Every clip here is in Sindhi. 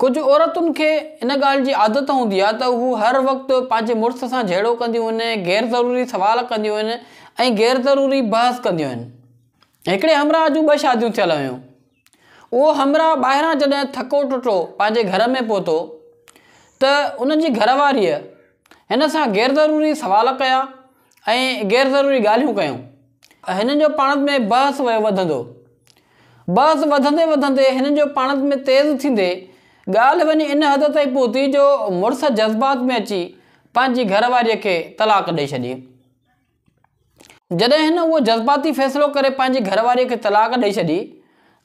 ڪجهه عورتن کي ان ڳالهه جي عادت هوندي آهي ته هو هر وقت پنهنجي مڙس سان جهيڙو ڪنديون آهن، غير ضروري سوال ڪنديون آهن ۽ غير ضروري بحث ڪنديون آهن. هڪڙي همراهه جون ٻه شاديون ٿيل هيون. اهو همراهه ٻاهران جڏهن ٿڪو ٽٽو پنهنجي گهر ۾ پهتو ته ان جي گهر واريء هن سان غير ضروري سوال ڪيا ۽ غير ضروري ڳالهيون ڪيون ته هنن جو پاڻت ۾ بحث ويو وڌندو. بحث وڌندي وڌندي هنن جو پاڻت ۾ تيز ٿيندي ڳالهه وڃي ان حد تائين پهتي جو مڙس جذبات ۾ اچي پنهنجي گهر واريء کي طلاق ڏئي ڇڏي. جڏهن هن اهو جذباتي فيصلو ڪري پنهنجي گهر واريء کي طلاق ڏئي ڇڏي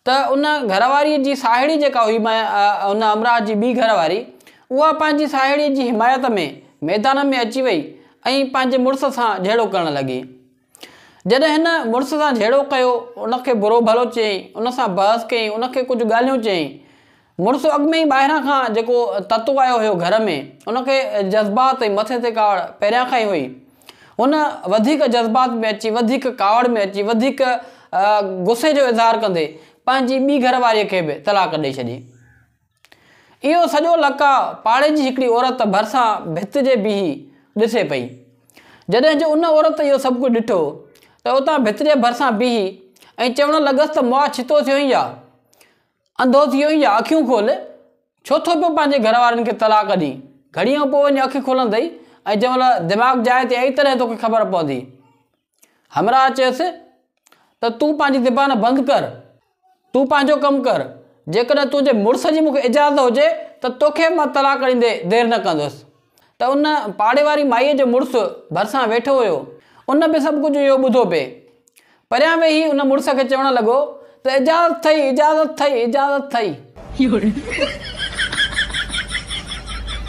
ته ان گهر واريء جي ساهيڙي جيڪا هئي ان همراهه جي ٻي گهر واري، اها پنهنجي ساهيڙيء جي حمايت ۾ ميدان ۾ اچي وئي ۽ پنهنجي مڙس سان جهيڙو ڪرڻ لڳي. جڏهن هن مڙس سان جهيڙو ڪيو، ان کي برو ڀلو چيائين، ان سان بحث ڪيائين، ان کي ڪجهه ڳالهيون چيائين، مڙس اڳ ۾ ئي ٻاهران کان جيڪو تتو آيو هيو گهر ۾، ان کي جذبات ۽ مٿي تي ڪاوڙ پهريان کان ئي هئي. هن وڌيڪ جذبات ۾ اچي، وڌيڪ ڪاوڙ ۾ اچي، وڌيڪ غصي جو اظهار ڪندي پنهنجي ٻي گهر واريء کي به طلاق ڏئي ڇڏي. اهو سڄو لقاء پاڙي جي هڪڙي عورت ڀرسان ڀت جي بيهي ڏسي پئي. جڏهن جو ان عورت اهو سڀ ڪجهه ڏٺو ته اتان ڀت جي ڀرسان بيهي ائين چوڻ لڳس ته مئا ڇتو ٿيو هين يا؟ انڌو ٿي وئين يا اکيون کول، ڇو ٿو پيو پنهنجي گهر وارين کي طلاق ڏئين، گهڙيء کان پوء وڃي اک کولندئي ۽ جنهن مهل دماغ جاء تي آئي تڏهن توکي خبر پوندي. همراهه چيس ته تون پنهنجي زبان بند ڪر، تون پنهنجو ڪم ڪر، جيڪڏهن تنهنجي مڙس جي مون کي اجازت هجي ته توکي به مان طلاق ڏيندي دير نه ڪندس. ته ان پاڙي واري مائيء جو مڙس ڀرسان ويٺو هيو. ان به سڀ ڪجهه اهو ٻڌو پئي. پريان ويهي ان مڙس کي چوڻ لڳو ته اجازت ٿئي، اجازت ٿئي، اجازت ٿئي.